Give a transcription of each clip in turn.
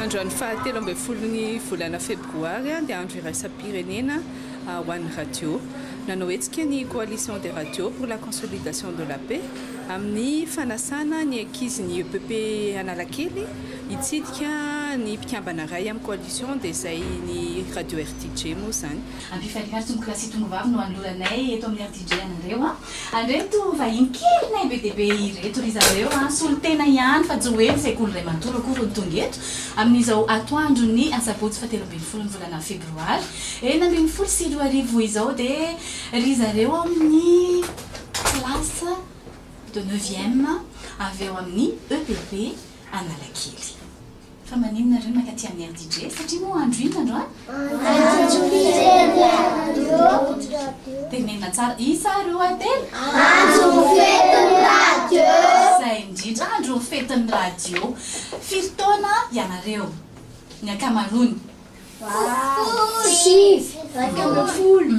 Androany fahatelo ambin'ny folo ny volana febroary dia andro iraisam-pirenena ho an'ny radio. Nanao hetsika ny Coalition des radios pour la consolidation de la paix amin'ny fanasana ny ankizin'ny epp Analakely hitsidika ny mpikambana iray amin'ny coalition dia izay ny radio RTJ moa izany. Ampifalikaritsy moklasy tongovavy no anoloranay eto amin'ny RTJ anareo. Andreto vahiny kely nay be dia be ireto ry zareo an, solontena ihany fa tsy hoe ny sekoly iray manontolo akory no tonga eto, amin'izao atoandro ny asabotsy faha telo ambin'ny folo ny volana febroary enina ambin'ny folo sy roa arivo izao dia ry zareo ao amin'ny classe de neuvième avy ao amin'ny EPP Analakely. Fa maninona re maka aty amin'ny RDJ? Satria moa andro inona androany? Tenenina tsara. Isa ary oa telo? Andron'ny fetin'ny radio. Izay indrindra, andron'ny fetin'ny radio. Firy taona ianareo? Ny ankamaroany. Folo sy sivy. Iraika ambin'ny folo.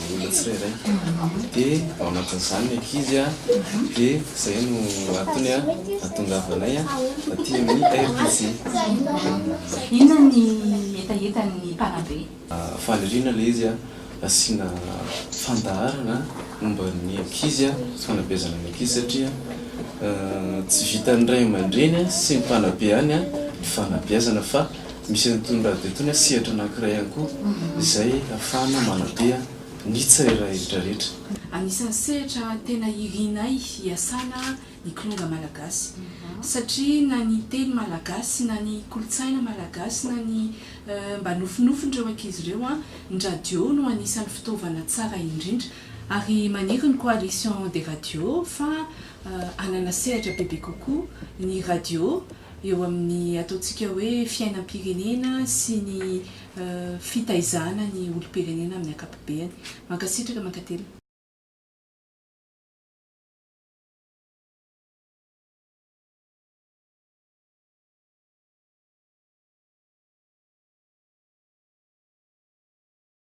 ny olona tsirairay dia ao anatin'izany ny ankizy dia izay no antony ahatongavanay aty amin'ny RPJ. Inona ny hetahetan'ny mpanabe? Faniriana ilay izy asiana fandaharana momba ny ankizy, fanabeazana ny ankizy satria tsy vitan'ny ray aman-dreny sy ny mpanabe ihany ny fanabeazana fa Misy an'itony radio itony a sehatra anankiray ihany koa izay ahafahana manabe a ny tsirairay retraretra. Anisan'ny sehatra tena irianay hiasana ny kilonga malagasy satria na ny teny malagasy na ny kolontsaina malagasy na ny mba nofinofin'ireo ankizy ireo a, ny radio no anisan'ny fitaovana tsara indrindra. Ary maniry ny Coalition des radios fa hanana sehatra bebe kokoa ny radio. eo amin'ny ataontsika hoe fiainam-pirenena sy ny fitaizana ny olom-pirenena amin'ny ankapobeany. Mankasitraka, mankatelina.